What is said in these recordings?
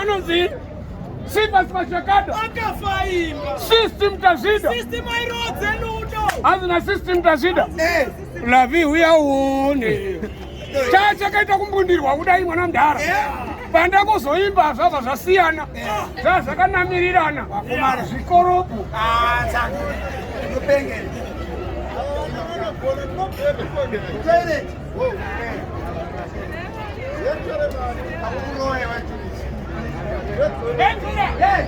anonzi Sivas Machakada system tazida hazina system tazida eh. lavi uya uone chachakaita kumbundirwa kudai mwana mdhara eh. panda kuzoimba zvabva zvasiyana zvaa zvakanamirirana zvikoropo Hey!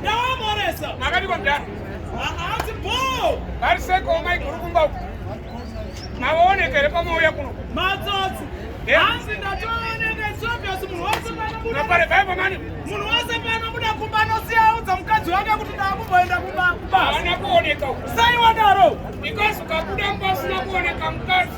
ndawamoresa makadiko mdara haasi bo vari seko maiguru kumba uku mavaoneka here pamauya kuno matsotsi hanzi ndatooneka isobviosi munhu wese panopare baibo mani munhu wese panobuda kumba anosiya audza mukadzi wake kuti ndaakumboenda kumba kubasa ana kuoneka uku sai wadaro because ukabuda mba usina kuoneka mukadzi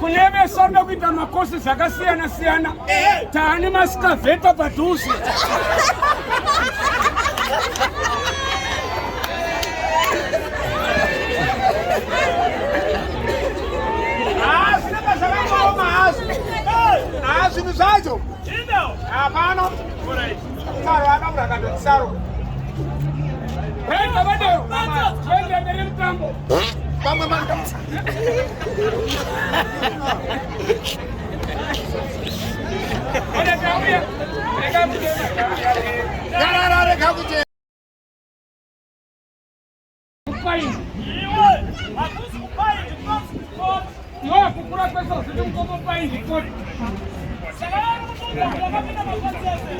kune vese vanoda kuita makosi zvakasiyana siyana taane masikavheta padhuze zvinhu zvacho hapana saro akabura kandoti saro vamwe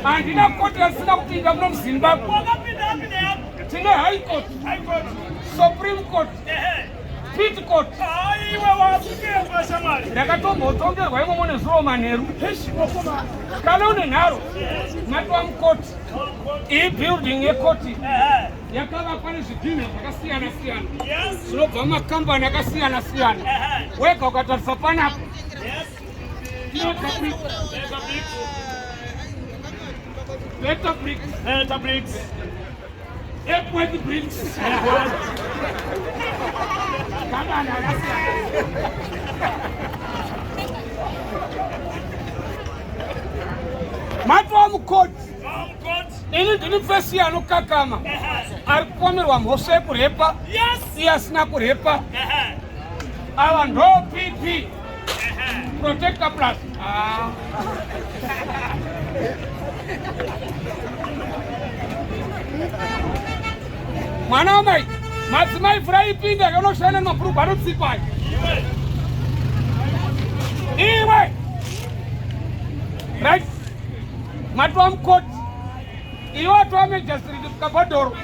handina koti asina kupinda muno muzimbabwe tine high court supreme court Pitikoti. Aiwa wakutemba shamari. Ndakatombotongerwa imomo nezuro manheru. Kana une nharo matwa mukoti. Iyi building yekoti eh. yakavakwa nezvidhinha zvakasiyana siyana zvinobva mumakambani akasiyana siyana. Eh. Wega ukatarisa panapa Matwa mukoti ini ndini fesi anokakama ari kupomerwa mhosva yekurepa iye asina kurepa ava ndo pp Protector plus. Ah. Mwana wamai, madzimai mvura ipinda kanoshanda nemabhurugwa anotsipa. Iwe. Right. Matwa mkoti. Iwe atwa major street kagodoro.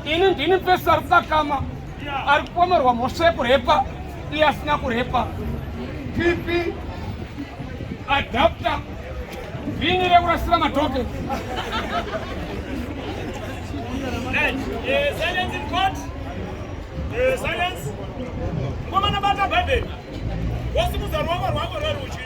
Ini ndini pesa rukakama. ari kupomerwa mhosva yekurepa iye asina kurepa pipi adapta vhini rekurasira matoke mukomana bata bhaibheri wosimudza ruoko rwako rwerudyi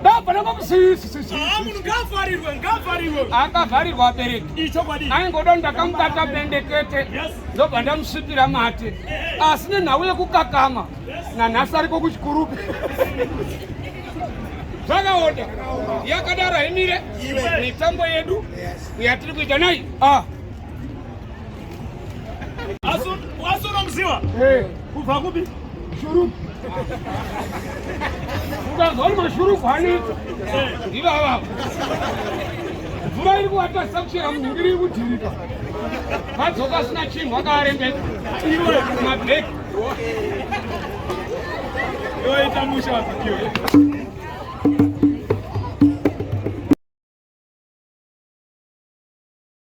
Ndabva nekumusisi. Ah, munhu ngavharirwe, ngavharirwe. Akavharirwa abereki. Ichokwadi. Aingoda ndakamubata bendekete. Yes. Ndobva ndamusvipira mate. Eh, eh. Asi nenhau yekukakama. Yes. Nanhasi ariko kuchikurupe. Zvakaonda. Yakadaro haimire. Mitambo yedu yatiri kuita nayi. Ah. Asinomziva kubva kupi? Shuruku. Ukazwa kuti mashuruku anoita ndivo avavo. Mvura iri kuvatadzisa kuchera munhu iri kudhirika. Vadzoka asina chinhu akaarembeka. Iwe mabheki. Iwe ita musha wapikiwe.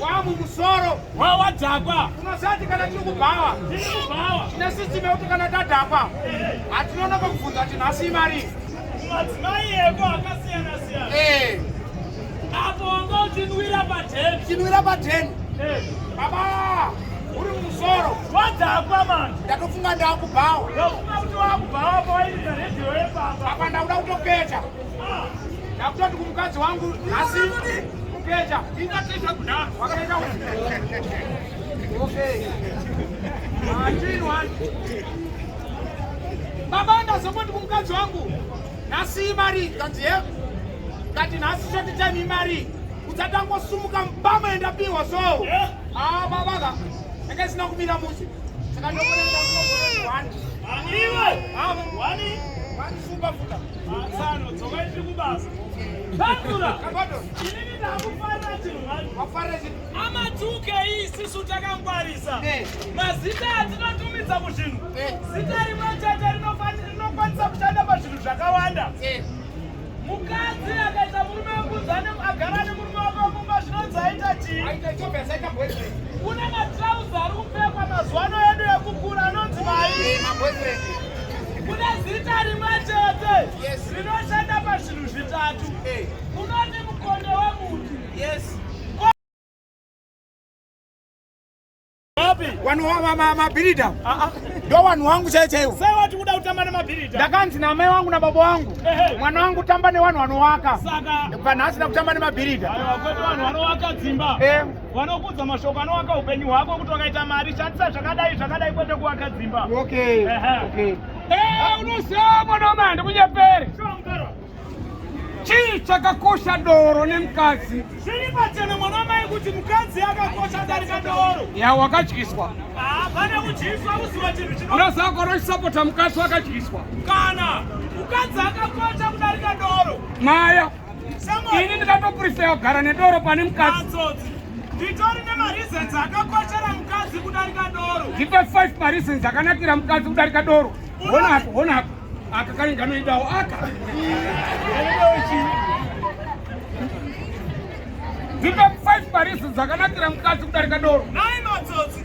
wamumusoro wawadhakwa unosati kana tiri kubhawa tine sisitemu yekuti kana tadhakwa hatinonoka kubvunza kuti nhasi imari madzimai eko akasiyana siyana eh. apo wanga uchinwira padheni uchinwira padheni eh. baba uri mumusoro wadhakwa mani ndatofunga ndakubhawa ndafunga kuti wakubhawa pawairira redhiyo yepamba apa ndakuda kutopeta Ndakutoti kumukadzi wangu nhasi kukecha. Ingatesha kuda. Wakaita usi. Okay. Achini wani. Baba ndazongoti kumukadzi wangu nhasi imari kanzi he. Kati nhasi shoti time imari. Kudzatangosumuka mbama yendapiwa so. Yeah. Ah baba ka. Ndanga sina kumira musi. Saka ndokuona ndakutoti wani. Wani iwe. Wani. Wani. Wani super futa. Matsano, dzokai tiri kubasa. Takura! Inini ndakufarira chinhu mhani. Wafarira chinhu? Amatuke iyi sisu takangwarisa. Eh. Mazita atinotumidza kuzvinhu. Eh. Zita rimwe chete rinokwanisa kushanda pazvinhu zvakawanda. Eh. Mukadzi akaita murume wekudzane agara nemurume wake kumba zvinonzi aita chii? Aita chope asaita boyfriend. Kuna matrauza ari kupfekwa mazuva ano edu ekukura anonzi mai. Maboyfriend. Kune zita rimwe chete rinoshanda pazvinhu zvitatu. Unoti mukonde wemuti. Yes. Wanu wa ma mabirida. Ah ah. Ndio wanu wangu chete hiyo. Sasa watu kuda utamba na mabirida. Dakanzi na mai wangu na baba wangu. Mwana wangu tamba ne wanu wanowaka. Saka. Pana hasi na kutamba ne mabirida. Ayo wakwetu wanu wanowaka dzimba. Eh. vanokuudza mashoko anovaka upenyu hwako kuti wakaita mari shandisa zvakadai zvakadai kwete kuvaka dzimba okay. uh -huh. okay. Eh, unoziva mwanoma handikunyepere chii chakakosha doro nemukadzi zviri pachena mwana mai kuti mukadzi akakosha darika doro ya wakadyiswa ah, pane kudyiswa kuziva chinhu chino unoziva kwanosapota mukadzi wakadyiswa kana mukadzi akakosha kudarika doro maya ini ndikatoprifeya kugara nedoro pane mukadzi nditori nemareasons akakoshera mukadzi kudarika doro ndipe 5 mareasons akanakira mukadzi kudarika doro honapo honapo aka kane nganoidawo aka ndipe 5 mareasons akanakira mukadzi kudarika doro nai matsotsi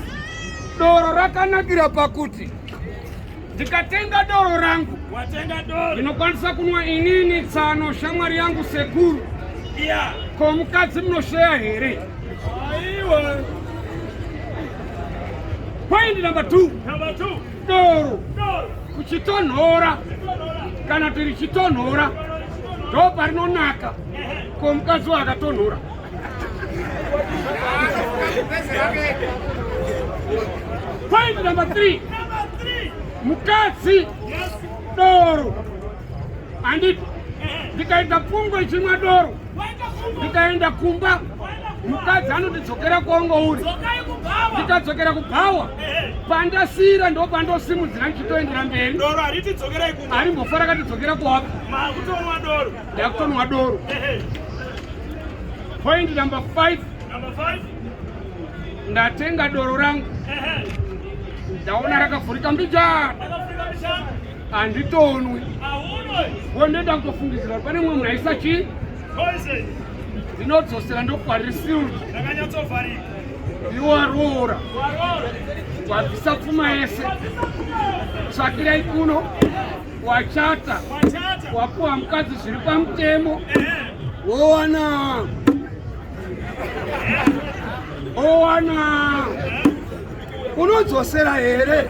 Doro rakanakira pakuti ndikatenga doro rangu ndinokwanisa kunwa inini tsano shamwari yangu sekuru yeah. ko mukadzi munosheya here point number two doro kuchitonhora kana tiri chitonhora ndo parinonaka ko mukadzi waakatonhora Point number three. Mukadzi doro anditi ndikaita pfungwa ichimwa doro ndikaenda kumba mukadzi anondidzokera kwongo uri ndikadzokera kubhawa pandasiyira ndo pandosimudzira ndichitoendera mberi arimbofara katidzokera kuwaka ndakutonwa doro point number 5 ndatenga doro rangu ndaona rakavhurika mbijana handitonwi wo ndoenda kutofungidzira pane mumwe munhu aisa chii ndinodzosera ndokwarisirwa ndiwaroora wabvisa pfuma yese tsvakirai kuno wachata wapuwa mukadzi zviri pamutemo wowana owana unodzosera here